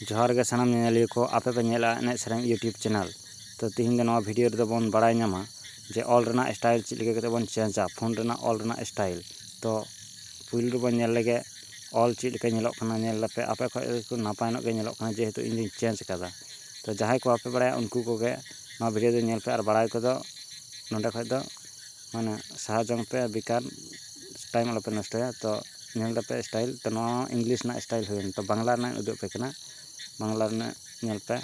ᱡᱚᱦᱟᱨ ᱜᱮ ᱥᱟᱱᱟᱢ ᱧᱮᱧᱮᱞᱤᱭᱟᱹ ᱠᱚ ᱟᱯᱮ ᱯᱮ ᱧᱮᱞᱟ ᱮᱱᱮᱡ ᱥᱮᱨᱮᱧ ᱤᱭᱩᱴᱩᱵᱽ ᱪᱮᱱᱮᱞ ᱛᱚ ᱛᱤᱦᱤᱧ ᱫᱚ ᱱᱚᱣᱟ ᱵᱷᱤᱰᱤᱭᱳ ᱨᱮᱫᱚ ᱵᱚᱱ ᱵᱟᱲᱟᱭ ᱧᱟᱢᱟ ᱡᱮ ᱚᱞ ᱨᱮᱱᱟᱜ ᱥᱴᱟᱭᱤᱞ ᱪᱮᱫ ᱞᱮᱠᱟ ᱠᱟᱛᱮᱫ ᱵᱚᱱ ᱪᱮᱧᱡᱟ ᱯᱷᱳᱱ ᱨᱮᱱᱟᱜ ᱚᱞ ᱨᱮᱱᱟᱜ ᱥᱴᱟᱭᱤᱞ ᱛᱚ ᱯᱩᱭᱞᱩ ᱨᱮᱵᱚᱱ ᱧᱮᱞ ᱞᱮᱜᱮ ᱚᱞ ᱪᱮᱫ ᱞᱮᱠᱟ ᱧᱮᱞᱚᱜ ᱠᱟᱱᱟ ᱧᱮᱞ ᱞᱮᱯᱮ ᱟᱯᱮ ᱠᱷᱚᱱ ᱮᱠᱴᱩ ᱱᱟᱯᱟᱭ ᱧᱚᱜ ᱜᱮ ᱧᱮᱞᱚᱜ ᱠᱟᱱᱟ ᱡᱮᱦᱮᱛᱩ ᱤᱧ ᱫᱚᱧ ᱪᱮᱧᱡᱽ ᱠᱟᱫᱟ ᱛᱚ ᱡᱟᱦᱟᱸᱭ ᱠᱚ ᱵᱟᱯᱮ ᱵᱟᱲᱟᱭᱟ ᱩᱱᱠᱩ ᱠᱚᱜᱮ ᱱᱚᱣᱟ ᱵᱷᱤᱰᱤᱭᱳ ᱫᱚ ᱧᱮᱞ ᱯᱮ ᱟᱨ ᱵᱟᱲᱟᱭ ᱠᱚᱫᱚ ᱱᱚᱸᱰᱮ ᱠᱷᱚᱱ ᱫᱚ ᱢᱟᱱᱮ ᱥᱟᱦᱟ ᱡᱚᱝ ᱯᱮ ᱵᱮᱠᱟᱨ ᱴᱟᱭᱤᱢ ᱟᱞᱚᱯᱮ ᱱᱚᱥᱴᱚᱭᱟ ᱛᱚ ᱧᱮᱞ ᱛᱟᱯᱮ ᱥᱴᱟᱭᱤᱞ ᱛᱚ ᱱᱚᱣᱟ ᱦᱚᱸ ᱤᱝᱞᱤᱥ ᱨᱮᱱᱟᱜ ᱥᱴᱟᱭᱤᱞ ᱦᱩᱭᱮᱱ ᱛᱚ ᱵᱟᱝᱞᱟ ᱨᱮᱱᱟᱜ ᱩᱫᱩᱜ ᱟᱯᱮ ᱠᱟᱱᱟ ᱵᱟᱝᱞᱟ ᱨᱮᱱᱟᱜ ᱧᱮᱞ ᱯᱮ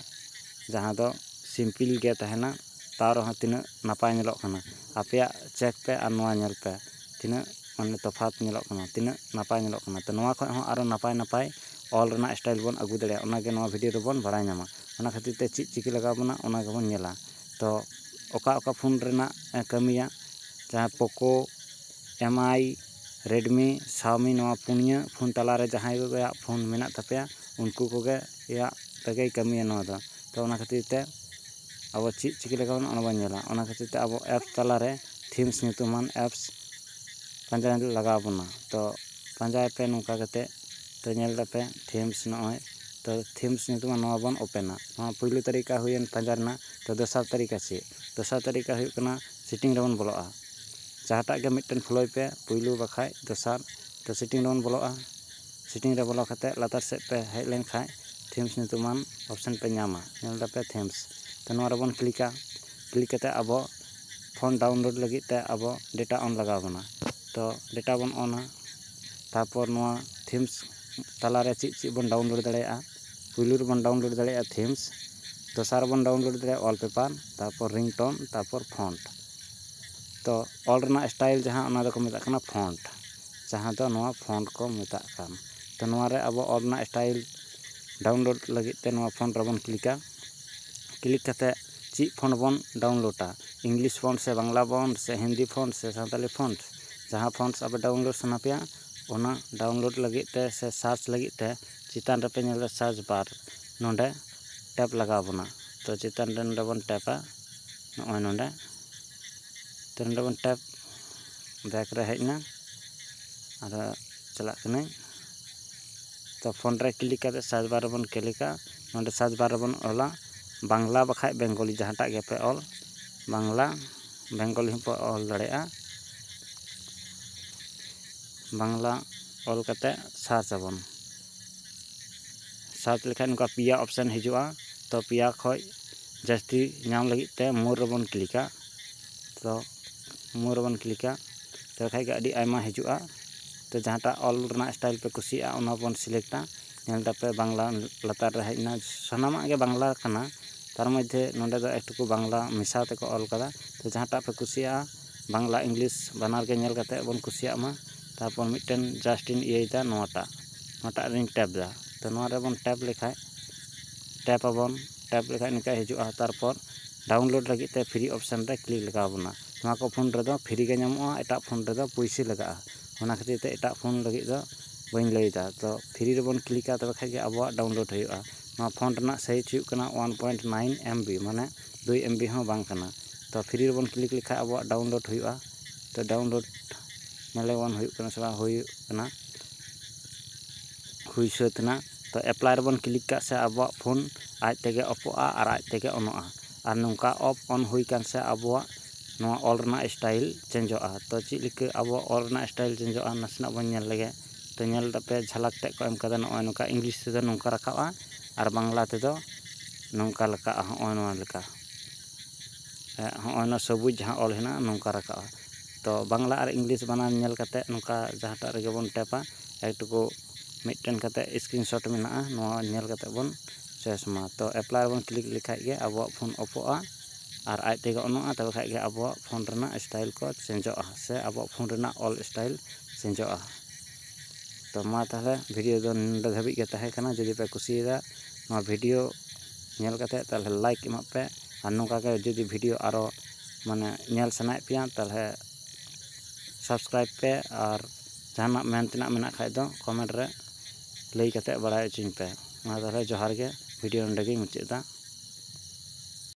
ᱡᱟᱦᱟᱸ ᱫᱚ ᱥᱤᱢᱯᱤᱞ ᱜᱮ ᱛᱟᱦᱮᱱᱟ ᱛᱟᱣ ᱨᱮᱦᱚᱸ ᱛᱤᱱᱟᱹᱜ ᱱᱟᱯᱟᱭ ᱧᱮᱞᱚᱜ ᱠᱟᱱᱟ ᱟᱯᱮᱭᱟᱜ ᱪᱮᱠ ᱯᱮ ᱟᱨ ᱱᱚᱣᱟ ᱧᱮᱞ ᱯᱮ ᱛᱤᱱᱟᱹᱜ ᱢᱟᱱᱮ ᱛᱚᱯᱷᱟᱛ ᱧᱮᱞᱚᱜ ᱠᱟᱱᱟ ᱛᱤᱱᱟᱹᱜ ᱱᱟᱯᱟᱭ ᱧᱮᱞᱚᱜ ᱠᱟᱱᱟ ᱛᱚ ᱱᱚᱣᱟ ᱠᱷᱚᱡ ᱦᱚᱸ ᱟᱨᱚ ᱱᱟᱯᱟᱭ ᱱᱟᱯᱟᱭ ᱚᱞ ᱨᱮᱱᱟᱜ ᱥᱴᱟᱭᱤᱞ ᱵᱚᱱ ᱟᱹᱜᱩ ᱫᱟᱲᱮᱭᱟᱜᱼᱟ ᱚᱱᱟ ᱜᱮ ᱱᱚᱣᱟ ᱵᱷᱤᱰᱤᱭᱳ ᱨᱮᱵᱚᱱ ᱵᱟᱲᱟᱭ ᱧᱟᱢᱟ ᱚᱱᱟ ᱠᱷᱟᱹᱛᱤᱨ ᱛᱮ ᱪᱮᱫ ᱪᱤᱠᱟᱹ ᱞᱟᱜᱟᱣ ᱵᱚᱱᱟ ᱚᱱᱟ ᱜᱮᱵᱚᱱ ᱧᱮᱞᱟ ᱛᱚ ᱚᱠᱟ ᱚᱠᱟ ᱯᱷᱳᱱ ᱨᱮᱱᱟᱜ ᱠᱟᱹᱢᱤᱭᱟ ᱡᱟᱦᱟᱸ ᱯᱳᱠᱳ ᱮᱢ ᱟᱭ ᱨᱮᱰᱢᱤ ᱥᱟᱣᱢᱤ ᱱᱚᱣᱟ ᱯᱩᱱᱭᱟᱹ ᱯᱷᱳᱱ ᱛᱟᱞᱟᱨᱮ ᱡᱟᱦᱟᱸᱭ ᱠᱚᱣᱟᱜ ᱯᱷᱳᱱ ᱢᱮᱱᱟᱜ ᱛᱟᱯᱮᱭᱟ ᱩᱱᱠᱩ ᱠᱚᱜᱮ ᱭᱟᱜ ᱛᱮᱜᱮᱭ ᱠᱟᱹᱢᱤᱭᱟ ᱱᱚᱣᱟ ᱫᱚ ᱛᱚ ᱚᱱᱟ ᱠᱷᱟᱹᱛᱤᱨ ᱛᱮ ᱟᱵᱚ ᱪᱮᱫ ᱪᱤᱠᱟᱹ ᱞᱮᱠᱟ ᱵᱚᱱ ᱚᱱᱟ ᱵᱚᱱ ᱧᱮᱞᱟ ᱚᱱᱟ ᱠᱷᱟᱹᱛᱤᱨ ᱛᱮ ᱟᱵᱚ ᱮᱯᱥ ᱛᱟᱞᱟᱨᱮ ᱛᱷᱤᱢᱥ ᱧᱩᱛᱩᱢᱟᱱ ᱮᱯᱥ ᱯᱟᱸᱡᱟ ᱞᱟᱜᱟᱣ ᱵᱚᱱᱟ ᱛᱚ ᱯᱟᱸᱡᱟᱭ ᱯᱮ ᱱᱚᱝᱠᱟ ᱠᱟᱛᱮ ᱛᱚ ᱧᱮᱞ ᱫᱟᱯᱮ ᱛᱷᱤᱢᱥ ᱱᱚᱜᱼᱚᱭ ᱛᱚ ᱛᱷᱤᱢᱥ ᱧᱩᱛᱩᱢᱟᱱ ᱱᱚᱣᱟ ᱵᱚᱱ ᱳᱯᱮᱱᱟ ᱱᱚᱣᱟ ᱯᱳᱭᱞᱳ ᱛᱟᱹᱨᱤᱠᱟ ᱦᱩᱭᱮᱱ ᱯᱟᱸᱡᱟ ᱨᱮᱱᱟᱜ ᱛᱚ ᱫᱚᱥᱟᱨ ᱛᱟᱹᱨᱤᱠᱟ ᱪᱮᱫ ᱫᱚᱥᱟᱨ ᱛᱟᱹᱨᱤᱠᱟ ᱦᱩᱭᱩᱜ ᱠᱟᱱᱟ ᱥᱤᱴᱤᱝ ᱨᱮᱵᱚᱱ ᱵᱚᱞᱚᱜᱼᱟ ᱡᱟᱦᱟᱸᱴᱟᱜ ᱜᱮ ᱢᱤᱫᱴᱮᱱ ᱯᱷᱳᱞᱳᱭ ᱯᱮ ᱯᱩᱭᱞᱩ ᱵᱟᱠᱷᱟᱡ ᱫᱚᱥᱟᱨ ᱛᱚ ᱥᱤᱴᱤᱝ ᱨᱮᱵᱚᱱ ᱵᱚᱞᱚᱜᱼᱟ ᱥᱤᱴᱤᱝ ᱨᱮ ᱵᱚᱞᱚ ᱠᱟᱛᱮ ᱞᱟᱛᱟᱨ ᱥᱮᱫ ᱯᱮ ᱦᱮᱡ ᱞᱮᱱ ᱠᱷᱟᱡ ᱛᱷᱤᱢᱥ ᱧᱩᱛᱩᱢᱟᱱ ᱚᱯᱷᱥᱮᱱ ᱯᱮ ᱧᱟᱢᱟ ᱧᱮᱞ ᱫᱟᱯᱮ ᱛᱷᱤᱢᱥ ᱛᱚ ᱱᱚᱣᱟ ᱨᱮᱵᱚᱱ ᱠᱞᱤᱠᱟ ᱠᱞᱤᱠ ᱠᱟᱛᱮ ᱟᱵᱚ ᱯᱷᱳᱱ ᱰᱟᱣᱩᱱᱞᱳᱰ ᱞᱟᱹᱜᱤᱫ ᱛᱮ ᱟᱵᱚ ᱰᱮᱴᱟ ᱚᱱ ᱞᱟᱜᱟᱣ ᱵᱚᱱᱟ ᱛᱚ ᱰᱮᱴᱟ ᱵᱚᱱ ᱚᱱᱟ ᱛᱟᱯᱚᱨ ᱱᱚᱣᱟ ᱛᱷᱤᱢᱥ ᱛᱟᱞᱟᱨᱮ ᱪᱮᱫ ᱪᱮᱫ ᱵᱚᱱ ᱰᱟᱣᱩᱱᱞᱳᱰ ᱫᱟᱲᱮᱭᱟᱜᱼᱟ ᱯᱩᱭᱞᱩ ᱨᱮᱵᱚᱱ ᱰᱟᱣᱩᱱᱞᱳᱰ ᱫᱟᱲᱮᱭᱟᱜᱼᱟ ᱛᱷᱤᱢᱥ ᱫᱚᱥᱟᱨ ᱨᱮᱵᱚᱱ ᱰᱟᱣᱩᱱᱞᱳᱰ ᱫᱟᱲᱮᱭᱟᱜᱼᱟ ᱚᱞᱯᱮᱯᱟᱨ ᱛᱟᱨᱯᱚᱨ ᱨᱤᱝᱴᱚᱱ ᱛᱟᱨᱯᱚᱨ ᱯᱷᱚᱱᱴ ᱛᱚ ᱚᱞ ᱨᱮᱱᱟᱜ ᱥᱴᱟᱭᱤᱞ ᱡᱟᱦᱟᱸ ᱚᱱᱟ ᱫᱚᱠᱚ ᱢᱮᱛᱟᱜ ᱠᱟᱱᱟ ᱯᱷᱚᱱᱴ ᱡᱟᱦᱟᱸ ᱫᱚ ᱱᱚᱣᱟ ᱯᱷᱚᱱᱴ ᱠᱚ ᱢᱮᱛᱟᱜ ᱠᱟᱱ ᱛᱚ ᱱᱚᱣᱟ ᱨᱮ ᱟᱵᱚ ᱚᱞ ᱨᱮᱱᱟᱜ ᱥᱴᱟᱭᱤᱞ ᱰᱟᱣᱩᱱᱞᱳᱰ ᱞᱟᱹᱜᱤᱫ ᱛᱮ ᱱᱚᱣᱟ ᱯᱷᱚᱱᱴ ᱨᱮᱵᱚᱱ ᱠᱞᱤᱠᱟ ᱠᱞᱤᱠ ᱠᱟᱛᱮ ᱪᱮᱫ ᱯᱷᱚᱱᱴ ᱵᱚᱱ ᱰᱟᱣᱩᱱᱞᱳᱰᱟ ᱤᱝᱞᱤᱥ ᱯᱷᱚᱱᱴ ᱥᱮ ᱵᱟᱝᱞᱟ ᱯᱷᱚᱱᱴ ᱥᱮ ᱦᱤᱱᱫᱤ ᱯᱷᱚᱱᱴ ᱥᱮ ᱥᱟᱱᱛᱟᱲᱤ ᱯᱷᱚᱱᱴ ᱡᱟᱦᱟᱸ ᱯᱷᱚᱱᱴ ᱟᱯᱮ ᱰᱟᱣᱩᱱᱞᱳᱰ ᱥᱟᱱᱟ ᱯᱮᱭᱟ ᱚᱱᱟ ᱰᱟᱣᱩᱱᱞᱳᱰ ᱞᱟᱹᱜᱤᱫ ᱛᱮ ᱥᱮ ᱥᱟᱨᱪ ᱞᱟᱹᱜᱤᱫ ᱛᱮ ᱪᱮᱛᱟᱱ ᱨᱮᱯᱮ ᱧᱮᱞ ᱮᱫᱟ ᱥᱟᱨᱪ ᱵᱟᱨ ᱱᱚᱸᱰᱮ ᱴᱮᱯ ᱞᱟᱜᱟᱣ ᱵᱚᱱᱟ ᱛᱚ ᱪᱮᱛᱟᱱ ᱨᱮ ᱱᱚᱸᱰᱮ ᱵᱚᱱ ᱴᱮᱯᱟ ᱱᱚᱜᱼᱚᱭ ᱱᱚᱸᱰᱮ ᱛᱚ ᱱᱚᱸᱰᱮ ᱵᱚᱱ ᱴᱮᱯ ᱵᱮᱠ ᱨᱮ ᱦᱮᱡ ᱮᱱᱟ ᱟᱫᱚ ᱪᱟᱞᱟᱜ ᱠᱟᱹᱱᱟᱹᱧ ᱛᱚ ᱯᱷᱳᱱ ᱨᱮ ᱠᱞᱤᱠ ᱠᱟᱛᱮ ᱥᱟᱨᱪ ᱵᱟᱨ ᱨᱮᱵᱚᱱ ᱠᱞᱤᱠᱟ ᱱᱚᱸᱰᱮ ᱥᱟᱨᱪ ᱵᱟᱨ ᱨᱮᱵᱚᱱ ᱚᱞᱟ ᱵᱟᱝᱞᱟ ᱵᱟᱠᱷᱟᱡ ᱵᱮᱝᱜᱚᱞᱤ ᱡᱟᱦᱟᱸᱴᱟᱜ ᱜᱮᱯᱮ ᱚᱞ ᱵᱟᱝᱞᱟ ᱵᱮᱝᱜᱚᱞᱤ ᱦᱚᱸᱯᱮ ᱚᱞ ᱫᱟᱲᱮᱭᱟᱜᱼᱟ ᱵᱟᱝᱞᱟ ᱚᱞ ᱠᱟᱛᱮ ᱥᱟᱨᱪ ᱟᱵᱚᱱ ᱥᱟᱨᱪ ᱞᱮᱠᱷᱟᱱ ᱱᱚᱝᱠᱟ ᱯᱮᱭᱟ ᱚᱯᱥᱮᱱ ᱦᱤᱡᱩᱜᱼᱟ ᱛᱚ ᱯᱮᱭᱟ ᱠᱷᱚᱡ ᱡᱟᱹᱥᱛᱤ ᱧᱟᱢ ᱞᱟᱹᱜᱤᱫ ᱛᱮ ᱢᱳᱨ ᱨᱮᱵᱚᱱ ᱠᱞᱤᱠᱟ ᱛᱚ ᱢᱳᱨ ᱨᱮᱵᱚᱱ ᱠᱞᱤᱠᱟ ᱛᱚᱵᱮ ᱠᱷᱟᱡ ᱜᱮ ᱟᱹᱰᱤ ᱟᱭᱢᱟ ᱦᱤᱡᱩᱜᱼᱟ ᱛᱚ ᱡᱟᱦᱟᱸᱴᱟᱜ ᱚᱞ ᱨᱮᱱᱟᱜ ᱥᱴᱟᱭᱤᱞ ᱯᱮ ᱠᱩᱥᱤᱭᱟᱜᱼᱟ ᱚᱱᱟ ᱵᱚᱱ ᱥᱤᱞᱮᱠᱴᱟ ᱧᱮᱞ ᱫᱟᱯᱮ ᱵᱟᱝᱞᱟ ᱞᱟᱛᱟᱨ ᱨᱮ ᱦᱮᱡ ᱮᱱᱟ ᱥᱟᱱᱟᱢᱟᱜ ᱜᱮ ᱵᱟᱝᱞᱟ ᱠᱟᱱᱟ ᱛᱟᱨ ᱢᱚᱫᱽᱫᱷᱮ ᱱᱚᱰᱮ ᱫᱚ ᱮᱠᱴᱩᱠᱩ ᱵᱟᱝᱞᱟ ᱢᱮᱥᱟ ᱛᱮᱠᱚ ᱚᱞ ᱠᱟᱫᱟ ᱛᱚ ᱡᱟᱦᱟᱸᱴᱟᱜ ᱯᱮ ᱠᱩᱥᱤᱭᱟᱜᱼᱟ ᱵᱟᱝᱞᱟ ᱤᱝᱞᱤᱥ ᱵᱟᱱᱟᱨ ᱜᱮ ᱧᱮᱞ ᱠᱟᱛᱮ ᱵᱚᱱ ᱠᱩᱥᱤᱭᱟᱜ ᱢᱟ ᱛᱟᱨᱯᱚᱨ ᱢᱤᱫᱴᱮᱱ ᱡᱟᱥᱴ ᱤᱧ ᱤᱭᱟᱹᱭᱮᱫᱟ ᱱᱚᱣᱟᱴᱟᱜ ᱱᱚᱣᱟᱴᱟᱜ ᱨᱤᱧ ᱴᱮᱯ ᱮᱫᱟ ᱛᱚ ᱱᱚᱣᱟ ᱨᱮᱵᱚᱱ ᱴᱮᱯ ᱞᱮᱠᱷᱟᱡ ᱴᱮᱯ ᱟᱵᱚᱱ ᱴᱮᱯ ᱞᱮᱠᱷᱟᱡ ᱱᱤᱝᱠᱟ ᱦᱤᱡᱩᱜᱼᱟ ᱛᱟᱨᱯᱚᱨ ᱰᱟᱣᱩᱱᱞᱳᱰ ᱞᱟᱹᱜᱤᱫ ᱛᱮ ᱯᱷᱨᱤ ᱚᱯᱷᱥᱮᱱ ᱨᱮ ᱠᱞᱤᱠ ᱞᱟᱜᱟᱣ ᱟᱵᱚᱱᱟ ᱱᱚᱣᱟ ᱠᱚ ᱯᱷᱳᱱ ᱨᱮᱫᱚ ᱯᱷᱨᱤ ᱜᱮ ᱧᱟᱢᱚᱜᱼᱟ ᱮᱴᱟᱜ ᱯᱷᱳᱱ ᱨᱮᱫᱚ ᱯᱩᱭᱥᱟᱹ ᱞᱟᱜᱟᱜᱼᱟ ᱚᱱᱟ ᱠᱷᱟᱹᱛᱤᱨ ᱛᱮ ᱮᱴᱟᱜ ᱯᱷᱳᱱ ᱞᱟᱹᱜᱤᱫ ᱫᱚ ᱵᱟᱹᱧ ᱞᱟᱹᱭᱮᱫᱟ ᱛᱚ ᱯᱷᱨᱤ ᱨᱮᱵᱚᱱ ᱠᱞᱤᱠᱟ ᱛᱚᱵᱮ ᱠᱷᱟᱡ ᱜᱮ ᱟᱵᱚᱣᱟᱜ ᱰᱟᱣᱩᱱᱞᱳᱰ ᱦᱩᱭᱩᱜᱼᱟ ᱱᱚᱣᱟ ᱯᱷᱳᱱ ᱨᱮᱱᱟᱜ ᱥᱟᱭᱤᱡ ᱦᱩᱭᱩᱜ ᱠᱟᱱᱟ one point nine M B ᱢᱟᱱᱮ ᱫᱩᱭ ᱮᱢ ᱵᱤ ᱦᱚᱸ ᱵᱟᱝ ᱠᱟᱱᱟ ᱛᱚ ᱯᱷᱨᱤ ᱨᱮᱵᱚᱱ ᱠᱞᱤᱠ ᱞᱮᱠᱷᱟᱱ ᱟᱵᱚᱣᱟᱜ ᱰᱟᱣᱩᱱᱞᱳᱰ ᱦᱩᱭᱩᱜᱼᱟ ᱛᱚ ᱰᱟᱣᱩᱱᱞᱳᱰ ᱧᱮᱞ ᱟᱵᱚᱱ ᱦᱩᱭᱩᱜ ᱠᱟᱱᱟ ᱥᱮ ᱵᱟᱝ ᱦᱩᱭᱩᱜ ᱠᱟᱱᱟ ᱦᱩᱭ ᱥᱟᱹᱛ ᱮᱱᱟ ᱛᱚ ᱮᱯᱞᱟᱭ ᱨᱮᱵᱚᱱ ᱠᱞᱤᱠ ᱠᱟᱜ ᱥᱮ ᱟᱵᱚᱣᱟᱜ ᱯᱷᱳᱱ ᱟᱡ ᱛᱮᱜᱮ ᱚᱯᱷᱚᱜᱼᱟ ᱟᱨ ᱟᱡ ᱛᱮᱜᱮ ᱚᱱᱚᱜᱼᱟ ᱟᱨ ᱱᱚᱝᱠᱟ ᱚᱯᱷ ᱚᱱ ᱦᱩᱭ ᱟᱠᱟᱱ ᱥᱮ ᱟᱵᱚᱣᱟᱜ ᱱᱚᱣᱟ ᱚᱞ ᱨᱮᱱᱟᱜ ᱥᱴᱟᱭᱤᱞ ᱪᱮᱧᱡᱚᱜᱼᱟ ᱛᱚ ᱪᱮᱫ ᱞᱮᱠᱟ ᱟᱵᱚᱣᱟᱜ ᱚᱞ ᱨᱮᱱᱟᱜ ᱥᱴᱟᱭᱤᱞ ᱪᱮᱧᱡᱚᱜᱼᱟ ᱱᱟᱥᱮᱱᱟᱜ ᱵᱚᱱ ᱧᱮᱞ ᱞᱮᱜᱮ ᱛᱚ ᱧᱮᱞ ᱠᱟᱛᱮᱫ ᱡᱷᱟᱞᱟᱠ ᱛᱮᱫ ᱠᱚ ᱮᱢ ᱠᱟᱫᱟ ᱱᱚᱜᱼᱚᱭ ᱱᱚᱝᱠᱟ ᱤᱝᱞᱤᱥ ᱛᱮᱫᱚ ᱱᱚᱝᱠᱟ ᱨᱟᱠᱟᱵᱼᱟ ᱟᱨ ᱵᱟᱝᱞᱟ ᱛᱮᱫᱚ ᱱᱚᱝᱠᱟ ᱞᱮᱠᱟᱜᱼᱟ ᱦᱚᱸᱜᱼᱚ ᱱᱚᱣᱟ ᱞᱮᱠᱟ ᱦᱚᱸᱜᱼᱚ ᱱᱚᱣᱟ ᱥᱚᱵᱩᱡᱽ ᱡᱟᱦᱟᱸ ᱚᱞ ᱦᱮᱱᱟᱜᱼᱟ ᱱᱚᱝᱠᱟ ᱨᱟᱠᱟᱵᱼᱟ ᱛᱚ ᱵᱟᱝᱞᱟ ᱟᱨ ᱤᱝᱞᱤᱥ ᱵᱟᱱᱟᱨ ᱧᱮᱞ ᱠᱟᱛᱮᱫ ᱱᱚᱝᱠᱟ ᱡᱟᱦᱟᱸᱴᱟᱜ ᱨᱮᱜᱮ ᱵᱚᱱ ᱴᱮᱯᱟ ᱮᱠ ᱴᱩᱠᱩ ᱢᱤᱫᱴᱮᱱ ᱠᱟᱛᱮᱫ ᱥᱠᱨᱤᱱ ᱥᱚᱨᱴ ᱢᱮᱱᱟᱜᱼᱟ ᱱᱚᱣᱟ ᱧᱮᱞ ᱠᱟᱛᱮᱫ ᱵᱚᱱ ᱪᱚᱭᱮᱥ ᱢᱟ ᱛᱚ ᱮᱯᱞᱟᱭ ᱨᱮᱵᱚᱱ ᱠᱞᱤᱠ ᱞᱮᱠᱷᱟᱱ ᱜᱮ ᱟᱵᱚᱣᱟᱜ ᱯᱷᱳᱱ ᱚᱯᱷᱚᱜᱼᱟ ᱟᱨ ᱟᱡ ᱛᱮᱜᱮ ᱚᱱᱚᱜᱼᱟ ᱛᱚᱵᱮ ᱠᱷᱟᱱ ᱜᱮ ᱟᱵᱚᱣᱟᱜ ᱯᱷᱳᱱ ᱨᱮᱱᱟᱜ ᱥᱴᱟᱭᱤᱞ ᱠᱚ ᱪᱮᱧᱡᱚᱜᱼᱟ ᱥᱮ ᱟᱵᱚᱣᱟᱜ ᱯᱷᱳᱱ ᱨᱮᱱᱟᱜ ᱚᱞ ᱥᱴᱟᱭᱤᱞ ᱪᱮᱧᱡᱚᱜᱼᱟ ᱛᱚ ᱢᱟ ᱛᱟᱦᱚᱞᱮ ᱵᱷᱤᱰᱤᱭᱳ ᱫᱚ ᱱᱚᱰᱮ ᱫᱷᱟᱹᱵᱤᱡ ᱜᱮ ᱛᱟᱦᱮᱸ ᱠᱟᱱᱟ ᱡᱩᱫᱤ ᱯᱮ ᱠᱩᱥᱤᱭᱟᱫᱟ ᱱᱚᱣᱟ ᱵᱷᱤᱰᱤᱭᱳ ᱧᱮᱞ ᱠᱟᱛᱮ ᱛᱟᱦᱚᱞᱮ ᱞᱟᱭᱤᱠ ᱮᱢᱟᱜ ᱯᱮ ᱟᱨ ᱱᱚᱝᱠᱟ ᱜᱮ ᱡᱩᱫᱤ ᱵᱷᱤᱰᱤᱭᱳ ᱟᱨᱚ ᱢᱟᱱᱮ ᱧᱮᱞ ᱥᱟᱱᱟᱭᱮᱫ ᱯᱮᱭᱟ ᱛᱟᱦᱚᱞᱮ ᱥᱟᱵᱥᱠᱨᱟᱭᱤᱵᱽ ᱯᱮ ᱟᱨ ᱡᱟᱦᱟᱱᱟᱜ ᱢᱮᱱ ᱛᱮᱱᱟᱜ ᱢᱮᱱᱟᱜ ᱠᱷᱟᱡ ᱫᱚ ᱠᱚᱢᱮᱱᱴ ᱨᱮ ᱞᱟᱹᱭ ᱠᱟᱛᱮ ᱵᱟᱲᱟᱭ ᱦᱚᱪᱚᱧ ᱯᱮ ᱢᱟ ᱛᱟᱦᱚᱞᱮ ᱡᱚᱦᱟᱨ ᱜᱮ ᱵᱷᱤᱰᱤᱭᱳ ᱱᱚᱰᱮ ᱜᱮᱧ ᱢᱩᱪᱟᱹᱫ ᱮᱫᱟ